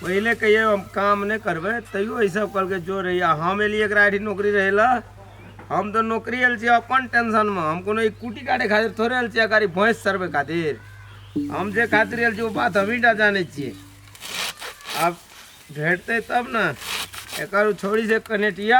पहिले कहिए हम काम नहीं करबे तैयो ऐसा कल के जो रही हम एलिए एक आइडी नौकरी रहे ला हम तो नौकरी आयल अपन टेंशन में हम कोनो एक कुटी काटे खातिर थोड़े आयल छियै गाड़ी भैंस चरबे खातिर हम जे खातिर आयल वो बात हम ही टा जाने छे अब भेटते तब ना एक छोड़ी से कनेटिया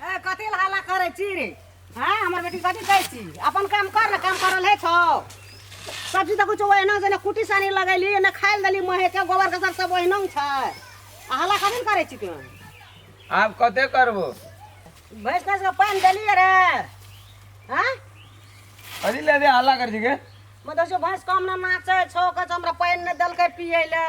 ए कथी ला हल्ला करै छी रे हाँ हमर बेटी कथी कहै छी अपन काम कर ने काम करल है छौ सब्जी तऽ कुछो ओहिना जेना कुटी सानी लगैली एने खाइ देली महे के गोबर कसर सब ओहिना छै आ हल्ला कथी ला करै छी तू आब कते करबो भैंस भैंस के पानि देलियै रे हाँ कथी लेबे हल्ला कर छी के मतलब भैंस कम ना नाचै छौ कहै छौ हमरा पानि नहि देलकै पियै लए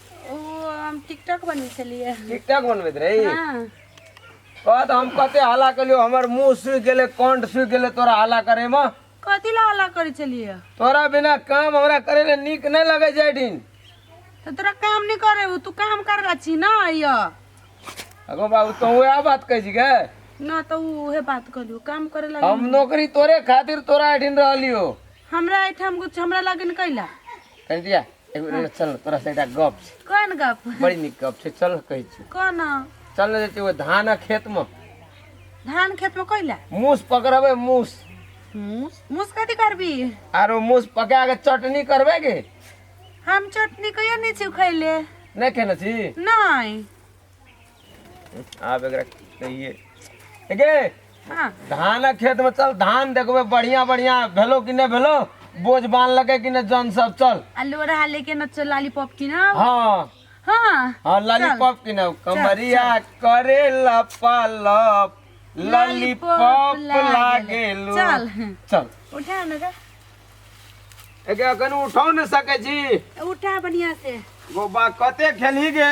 ओ हम टिकटॉक बनबै छलियै टिकटॉक बनबैत रही हँ कह तऽ हम कते हल्ला केलियो हमर मुंह सूखि गेलै कंठ सूखि गेलै तोरा हल्ला करे में कथी ला हल्ला करै छलियै तोरा बिना काम हमरा करे ले नीक नहीं लगे छै एठिन तऽ तोरा काम नहि करे हो तू काम कर रहल छी ना यऽ अगो बाबू तो वह बात कह छी के ना तऽ उ उहे बात कहलियो काम करे लगे हम नौकरी तोरे खातिर तोरा एठिन रहलियो हमरा एठाम कुछ हमरा लगे कैला कह दिया एगो रे चल तोरा से एकटा गप छै कोन गप बड़ी नीक गप छै चल कहै छी कोन चल ने जेतै ओहि धानक खेत मे धान खेत में कोइला मूस पकड़बै मूस मूस मूस कथी करबी आरो मूस पका के चटनी करबै के हम चटनी कहियो नहीं छी खैले नहि खेने छी नहीं आब एकरा कहिए गे हाँ धानक खेत में चल धान देखबे बढ़िया बढ़िया भेलो कि नहीं भेलो बोझ बांध लगे कि नहीं जन सब चल आ लोढ़ा लेके न चल लॉलीपॉप की ना हाँ हाँ हाँ लॉलीपॉप की ना कमरिया करे लपालप लॉलीपॉप लागे लो चल। चल उठा न का एके अखन उठो न सके छी उठा बढ़िया से गोबा कते खेली गे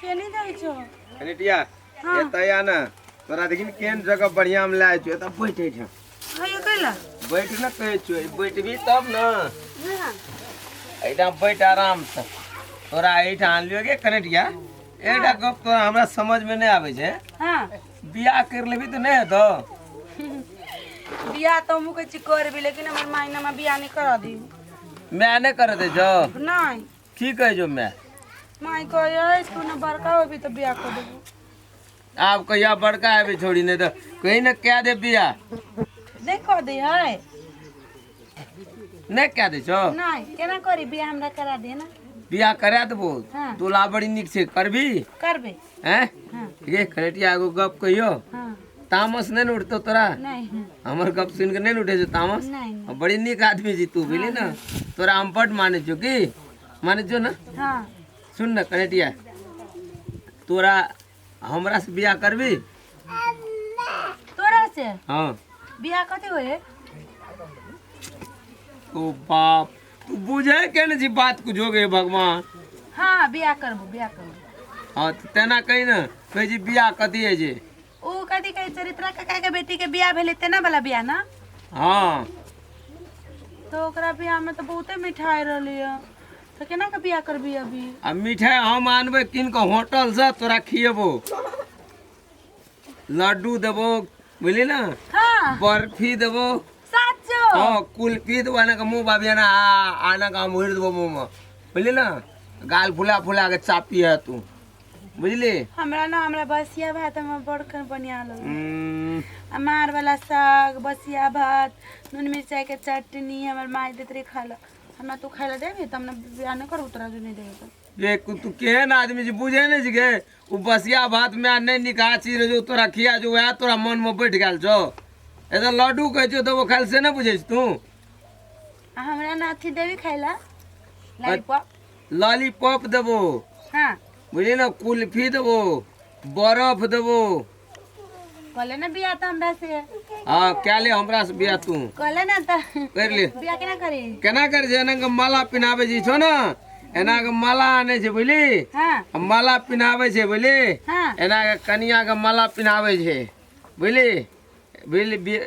केने जाइ छौ कनिटिया हाँ। एतऽ या ना तोरा देखी ने केहन जगह बढ़िया में लाए छो एतऽ बैठ एठ हयो कैला बैठ ना कहे छो ई बैठबी तब ना हाँ एटा बैठ आराम से तोरा एठ आन लियो के कनिटिया एटा गप तोरा हमरा समझ में नहीं आवे छे हाँ बियाह कर लेबी तो नहीं हेतो बियाह तो हमहूँ कहै छी करबै लेकिन हमर मायनामे बियाह नहि करऽ दी मैं नहीं कर दे जो नहि की कहै छौ माय माय कहै अछि कोनो बड़का होबी तऽ बियाह कऽ देबो आब कहिया बड़का हेबे छोड़ी नहि तऽ कहीं ने कए दे बियाह नहि कऽ दै है नहि कए दै छौ नहि केना करी बियाह हमरा करा दे ने बियाह करा देबो हाँ। दुल्हा बड़ी नीक छै करबी करबै हैं हाँ ये करेटिया एगो गप कहियो हाँ तामस नहि ने उठतो तोरा नहीं हमर गप सुनि के नहि ने उठे छौ तामस नहीं आ बड़ी नीक आदमी छी तू बुझली ने तोरा हम बड माने छौ की माने छौ ने हाँ सुन ने कनेटिया तोरा हमरा से बियाह करबी तोरा से हाँ बियाह कथी होय है? ओ बाप तू बुझे के ने जी बात कुछ हो गए भगवान हाँ बियाह करबो बियाह करबो हाँ तो तेना कही ने कहे जी बियाह कथी है जे ऊ कथी कहै चरित्रा काका के बेटी के बियाह भेलै तेना वाला बियाह ना हाँ तो ओकरा बियाह में तो बहुते मिठाई रहलै है तो केना के बियाह करबी अभी आ मिठाई हम आनबै कीन कऽ होटल से तोरा खिएबो लड्डू देबो बुझली ना हाँ बर्फी देबो साचो हाँ कुल्फी देबो आना के मुँह बाबी आना आना के हम उड़ि देबो मुँह में बुझली ना गाल फुला फुला के चापी है तू बुझली हमरा ना हमरा बसिया भात हमरा बड़कर बढ़िया लगे हम्म, अमार वाला साग बसिया भात नून मिरचाई के चटनी हमर माई देत रही खा लो हमरा तू खाए ला देबी त हमरा बियाह न कर उतरा जो नहीं देबी रे कु- तू केहन आदमी जी बुझे नहीं गे उ बसिया भात में आ नहीं निकाह चीज रहे जो तोरा खिया जो वह तोरा मन में बैठ गेल छो ए तो लड्डू कहे छो तो वो खाल से ना बुझे छी तू आ हमरा ना अथी देवी खाइला लॉलीपॉप लॉलीपॉप देबो हाँ बुझली ना कुल्फी देबो बर्फ देबो कहले ना बिया तो हमरा से हाँ क्या ले हमरा से बिया तू कहले ना तो कर ले बिया केना करी केना कर जे एना के माला पिनाबे जी छो ना एना के माला आने छै बुझली हाँ आ माला पिनाबे छै बुझली हाँ एना के कनिया के माला पिनाबे छै बुझली बुझली बि-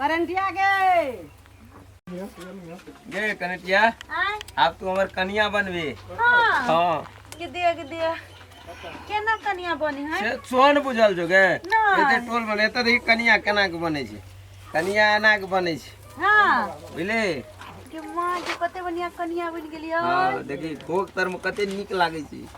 करंटिया गे गे कनेटिया आय आब तू हमर कनिया बनबी हाँ हाँ के दिया के दिया केना कनिया बने है से सोन बुझल जो गे ना। एते टोल बने एते देखी कनिया केना के बने छै कनिया एना के बने छै हाँ बुझले के माँ के कते बढ़िया कनिया बन गेली हाँ देखी भोग तर में कते नीक लागे छै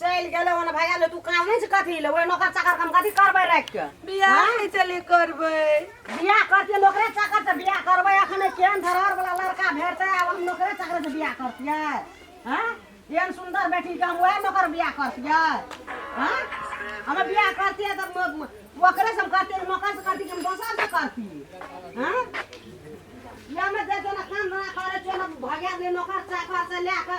चलि गेलै ओने भैया ले तू काम नहि छै कथी ले ओहि नौकर चाकर काम कथी करबै राखि के बियाह हाँ? नहि चले करबै बियाह करतियै नौकरे चाकर से बियाह करबै अखने केहन धरहर वाला लड़का भेटतै आब हम नौकरे चाकर से बियाह करतियै हाँ एहन सुंदर बेटी के हम वएह नौकर बियाह करतियै हाँ हम बियाह करतियै तब ओकरे से हम करतियै नौकर से करतियै कि हम दोसर से करतियै हाँ या में दे दो ना काम धंधा करे छो ना भैया ले नौकर चाकर से ले के